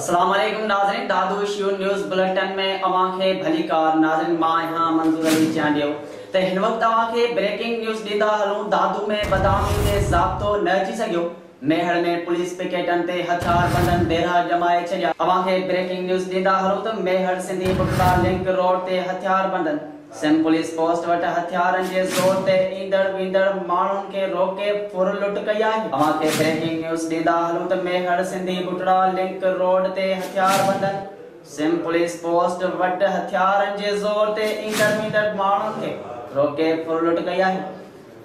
السلام عليڪم ناظرين دادو شيو نيوز بلٽن ۾ اوهان کي ڀليڪار ناظرين مان آهيان منظور علي چانڊيو ته هن وقت اوهان کي بريڪنگ نيوز ڏيندا هلون دادو ۾ بدامني تي ضابطو نه اچي سگهيو ميهڙ ۾ پوليس پڪيٽن تي هٿيار بندن ديرها ڄمائي ڇڏيا. اوهان کي بريڪنگ نيوز ڏيندا هلون ته ميهڙ سنڌي بگٽا لنڪ روڊ تي هٿيار بندن سم پوليس پوسٽ وٽ هٿيارن جي زور تي ايندڙ ويندڙ ماڻهن کي روڪي ڦر لٽ ڪئي آهي. اوهان کي بريڪنگ نيوز ڏيندا هلون ته ميهڙ سنڌي بگٽا لنڪ روڊ تي هٿيار بندن سم پوليس پوسٽ وٽ هٿيارن جي زور تي ايندڙ ويندڙ ماڻهن کي روڪي ڦر لٽ ڪئي آهي.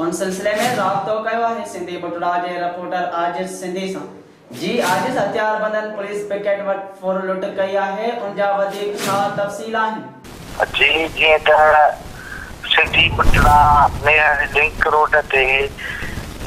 ان سلسلي ۾ رابطو ڪيو آهي سنڌي بٽوڙا جي رپورٽر عاجز سنڌي سان جي عاجز هٿياربندن پوليس پڪيٽ وٽ ڦر لٽ ڪئي آهي ان جا وڌيڪ ڇا تفصيل آهن. جي جيئن ته سنڌي بٽڙا ميهڙ لنڪ روڊ تي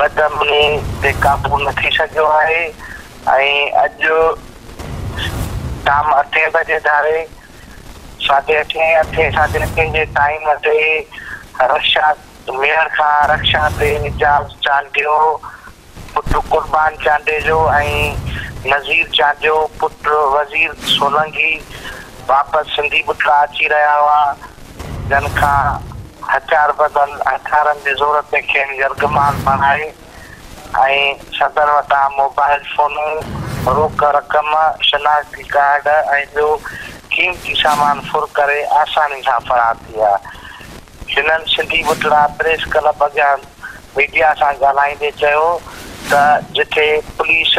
بد امني تي قابو نه ٿي سگهيو آهي ۽ اڄ شام اٺين بجي ڌاري ساڍي اٺين اٺين ساڍي اٺين جي ٽائيم تي رشاد ميهڙ کان رڪشا تي اعجاز چانڊيو پٽ قربان چانڊيجو ۽ نذير چانڊيو پٽ وزير سولنگي واپس سنڌي ٻٽلا اچي رهيا هئا، جن کان هٿيار ٻڌل هٿيارن جي زور تي کين يرغمال بڻائي ۽ صدر وٽان موبائل فونون، روڪ رقم، شناختي ڪارڊ ۽ ٻيو قيمتي سامان ڦر ڪري آساني سان فرار ٿي ويا. هنن سنڌي ٻٽڙا پريس ڪلب اڳيان ميڊيا سان ڳالهائيندي چيو ته جتي پوليس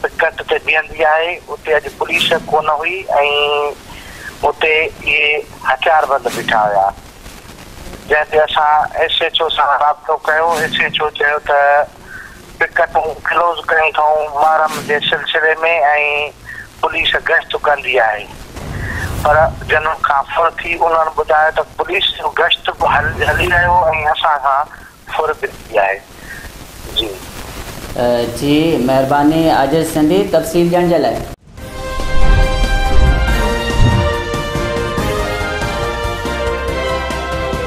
پڪٽ تي بيهندي آهي اتي اڄ پوليس ڪونه هئي ۽ اتي اهي هٿياربند بيٺا هيا جنهن تي اسان ايس ايڇ او سان رابطو ڪيو ايس ايڇ او چيو ته پڪيٽون ڪلوز ڪيون اٿئون، محرم جي سلسلي ۾ ۽ پوليس گشت ڪندي آهي پر جنم کان ڦر ٿي انهن ٻڌايو ته پوليس جو گشت به هلي رهيو ۽ اسان کان ڦر به ٿي آهي جي. جي مهرباني عاجز سنڌي تفصيل ڏيڻ جي لاء.